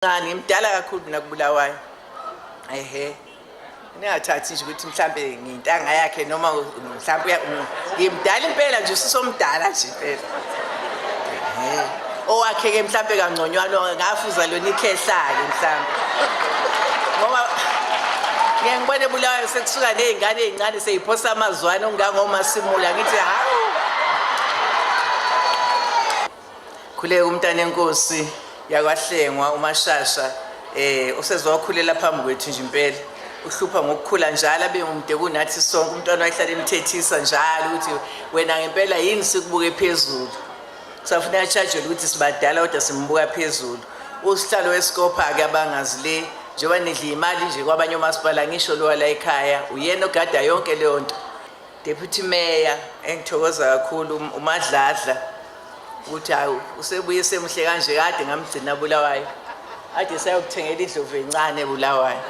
ngisemncane ngimdala kakhulu mina kubulawayo ehe ningathathi nje ukuthi mhlambe ngintanga yakhe noma mhlambe ngimdala impela nje usisomdala nje impela owakhe ke mhlambe kangconywana ngafuza lona ikhehlake mhlambe ngoba ngeke ngibone bulawayo sekusuka nezingane ezincane seyiphosa amazwana ongangomasimula ngithi hawu Khuleka umntanenkosi yakwahlengwa umashasha eh usezwakhulela phambi kwethu nje impela uhlupha ngokukhula njalo abe umde kunathi sonke umntwana wayehlala emthethisa njalo ukuthi wena ngempela yini sikubuke phezulu safuna yachajele ukuthi sibadala kodwa simbuka phezulu usihlalo wesikopha-ke abangazi le njengoba nidla imali nje kwabanye omasipala ngisho lowa la ekhaya uyena ogada yonke leyo nto Deputy Mayor engithokoza kakhulu um- uMadladla ukuthi hawu usebuye semuhle kanje kade ngamgcina Bulawayo ade sayokuthengela indlovu encane Bulawayo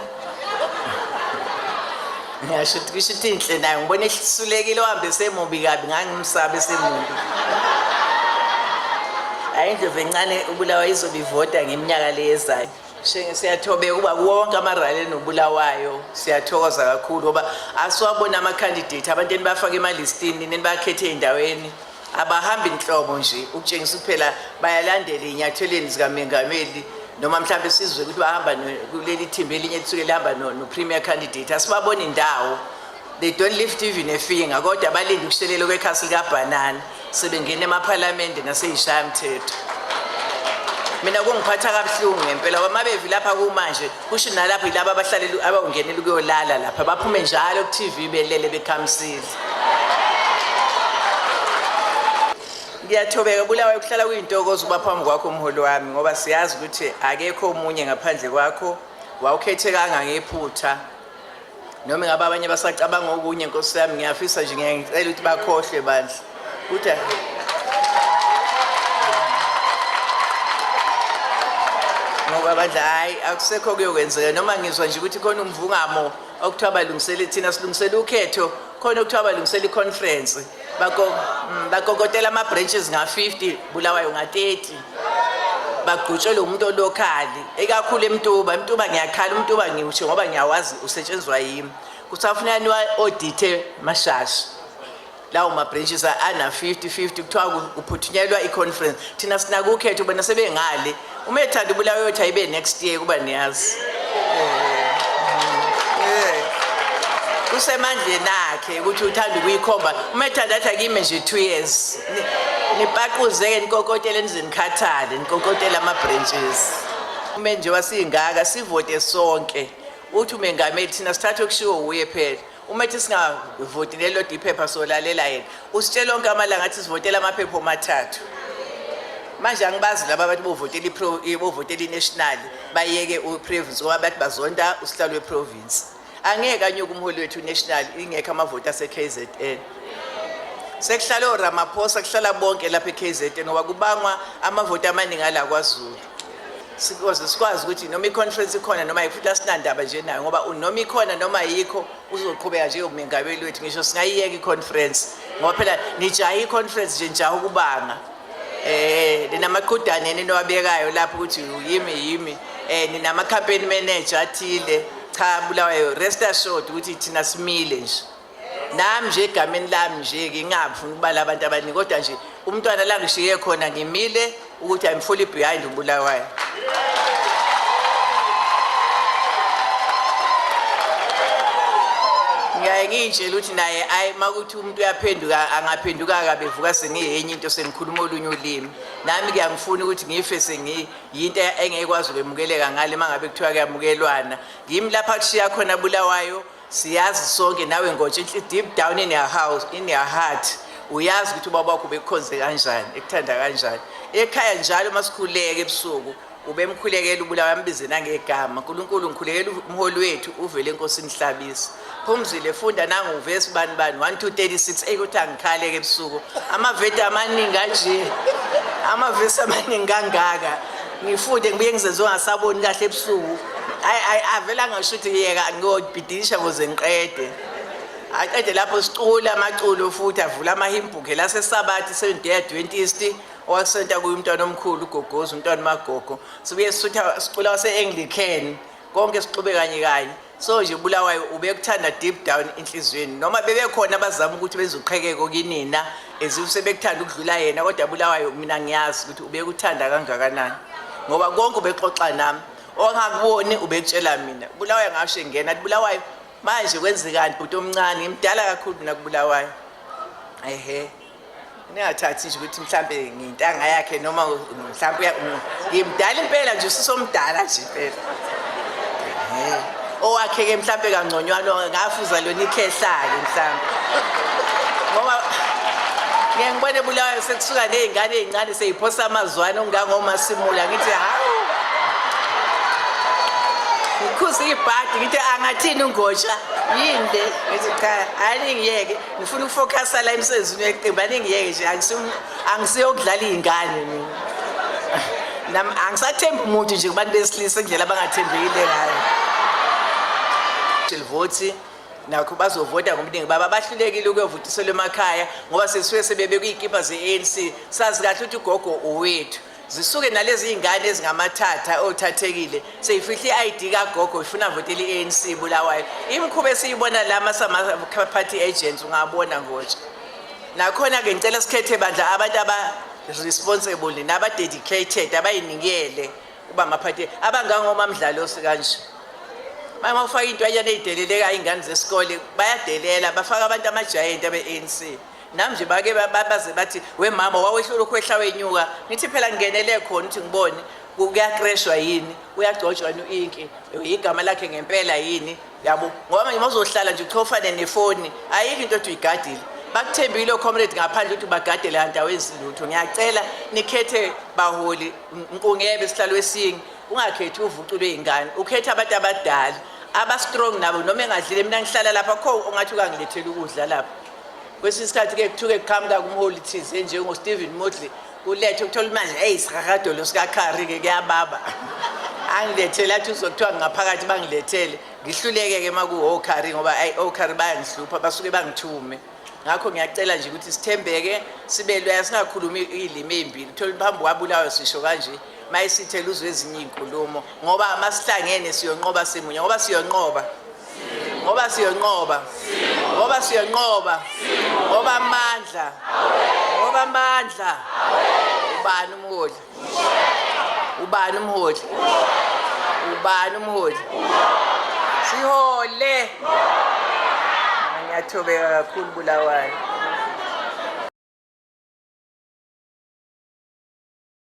ngiyasho ukuthi kusho ukuthi inhle nayo ngibona ehlisulekile ohambe semubi kabi ngangimsabe semubi hayi indlovu encane uBulawayo izobe ivota ngeminyaka leyezayo Shenge siyathobeka ukuba wonke amarali enobulawayo siyathokoza kakhulu ngoba asiwabona ama-candidate abantu enibafake emalistini nenibakhethe ey'ndaweni abahambi nhlobo nje ukutshengisa kuphela bayalandela ey'nyathelweni zikamengameli noma mhlawumbe sizwe ukuthi bahamba kuleli thimba elinye lisuke lihamba no-premier candidate asibaboni ndawo They don't lift even a finger kodwa balinde ukushelela kwekhasi likabhanana sebengena emaphalamende naseyishaya mthetho mina kungiphatha kabuhlungu ngempela ngoba mabevi lapha kumanje kusho nalapho yilabo abahlaleli abawungenela ukuyolala lapha baphume njalo ku-tv belele bekhamisile ngiyathobeka bulawayo kuhlala kuyintokozo uba phambi kwakho umholi wami ngoba siyazi ukuthi akekho omunye ngaphandle kwakho wawukhethe kangangephutha noma ingabe abanye basacabanga okunye nkosi yami ngiyafisa nje ngiyangicela ukuthi bakhohlwe bandla ukuthi ngoba bandla hhayi akusekho kuyokwenzeka noma ngizwa nje ukuthi khona umvungamo okuthiwa balungisele thina silungisele ukhetho khona okuthiwa balungisele i-conference Mm, bakokotela ama-branches nga-50 bulawayo nga-30 bagqutshwe lo muntu olokhali ekakhulu emtuba emtuba ngiyakhala umtuba ngiwusho ngoba ngiyawazi usetshenziswa yimi kusafuneka niwa-odithe mashasha lawo ma-branches ana-50 50 kuthiwa kuphuthunyelwa i-conference thina sinakukhetha ubona sebengale Uma ethanda ubulawa uyothi ayibe next year kuba niyazi. Kusemandleni akhe ukuthi uthanda ukuyikhomba. Uma ethanda athi akime nje 2 years. Nipaquzeke nikokotele nizenikhathale, nikokotele ama branches. Uma nje wasingaka sivote sonke. Uthi umengameli thina sithathe okushiwo uye phela. uma ethi singavoti lelo diphepha solalela yena usitshela onke amalanga athi sivotela amaphepha omathathu manje angibazi laba abantu bovotela ipro bovotela inational bayeke uprovince ngoba bathi bazonda usihlalo weprovince angeke anyuke umholi wethu national ingekho amavoti aseKZN sekuhlala oRamaphosa kuhlala bonke lapha eKZN ngoba kubangwa amavoti amaningi ala kwaZulu sikoze sikwazi ukuthi noma iconference ikhona noma futhi asinandaba nje nayo ngoba noma ikhona noma yikho uzoqhubeka nje umengameli wethu ngisho singayiyeka iconference ngoba phela nijaha iconference nje njaha ukubanga eh ninamaqhudane ninowabekayo lapho ukuthi yimi yimi eh ninama campaign manager athile cha bulawayo rest assured ukuthi thina simile nje nami nje egameni lami nje ke ngingafuni ukubala abantu abaningi kodwa nje umntwana la ngishiye khona ngimile ukuthi i'm fully behind ubulawayo ngiyaye ngiyitshela ukuthi naye ayi uma kuthi umuntu uyaphenduka angaphenduka kabevuka sengiyenye into sengikhuluma olunye ulimi nami kuyangifuna ukuthi ngife sengiyinto engekwazi ukwemukeleka ngale uma ngabe kuthiwa kuyamukelwana ngimi lapha kushiya khona bulawayo siyazi sonke nawe ngotsha inhli deep down in your house in your heart uyazi ukuthi ubaba wakho ubekhonze kanjani ekuthanda kanjani ekhaya njalo uma sikhuleke ebusuku ubemkhulekela ubulawa ambize nangegama nkulunkulu ngikhulekela umholi wethu uvele enkosini hlabisa phumzile funda nanguvesi bani bani 1 2 36 eyi ukuthi angikhaleke ebusuku amaveti amaningi kanje amavesi amaningi kangaka ngifunde ngibuye ngizenze ungasaboni kahle ebusuku hayi avele angasho ukuthi yeka ngiyobhidisha kuze ngiqede aqede lapho sicula amaculo futhi avula amahimbhuke lasesabathi sevendeya dwentist owasenta kuyo umntwana omkhulu ugogozi umntwana umagogo sibuye sisutha sicula wase-anglican konke sixube kanye kanye so nje ubulawayo ubekuthanda deep down enhliziyweni noma bebekhona abazama ukuthi benze uqhekeko kinina as if sebekuthanda ukudlula yena kodwa bulawayo mina ngiyazi ukuthi ubekuthanda kangakanani ngoba konke ubexoxa nami ongakuboni ubekutshela mina bulawayo ngasho engena athi bulawayo manje kwenzekani bhuti omncane ngimdala kakhulu mina kubulawayo ehe ningathathi nje ukuthi mhlambe ngintanga yakhe noma mhlambe ngimdala impela nje usisomdala nje impela owakhe ke mhlambe kangconywana ngafuza lona ikhehlake mhlambe ngoba ngeke ngibone bulawayo sekusuka nezingane ezincane seyiphosa amazwana ongangomasimula ngithi hawu ngikhuza ibhadi ngithi angathini ungotsha yini le ngithi cha hayi ngiyeke ngifuna ukufocasa la emsebenzini weqembu aningiyeke nje angisiyokudlala iy'ngane mina angisathembi umuntu nje kubantu besilisa indlela abangathembekile ngayo livoti nakho bazovota ngobuningi baba bahlulekile ukuyovutiselwa emakhaya ngoba sesuke sebebekuy'kibha ze-anc sazi kahle ukuthi ugogo owethu zisuke nalezi iy'ngane ezingamathatha othathekile seyifihle i-id kagogo ifuna votela i-anc bulawayo imikhuba esiyibona la masama-party agents ungabona ngotsha nakhona-ke ngicela sikhethe bandla abantu aba-responsible naba-dedicated abayinikele uba amaphathi abangangomamdlalosi kanje uma ufaka intwanyana ey'delelekayo iy'ngane zesikole bayadelela bafaka abantu amajayenti abe-anc nam nje bake baze bathi wemama wawehlula ukhwehla wenyuka ngithi phela ngingenele khona ukuthi ngibone kuyakreshwa yini uyagcotshwa yini u-inki igama lakhe ngempela yini yabo ngoba manje mazohlala nje uchofane nefoni ayikho into othi uyigadile bakuthembile ocomrade ngaphandle ukuthi bagadele andawo ezilutho ngiyacela nikhethe baholi nkungebe sihlalo esingi ungakhethi uvuculwe ingane ukhethe abantu abadala abastrong nabo noma engadlile mina ngihlala lapha kho ungathi ukangilethela ukudla lapha kwesinye isikhathi ke kuthuke kuqhamuka kumholi thize njengostephen modley kulethe ukuthola manje eyi sirhakadolo sikakhari-ke kuyababa angilethele athi uzokuthiwa ngaphakathi bangilethele ngihluleke-ke uma kuwokhari ngoba ayi okhari bayangihlupha basuke bangithume ngakho ngiyacela nje ukuthi sithembeke sibe loya singakhulumi iy'limi ey'mbili uthole phambi kwabulawa sisho kanje mayisithela uzwe ezinye iy'nkulumo ngoba masihlangene siyonqoba simunye ngoba siyonqoba ngoba siyonqoba ngoba siyonqoba ngoba amandla ngoba amandla ubani umholi ubani umholi ubani umholi sihole ngiyathobeka kakhulu bulawayo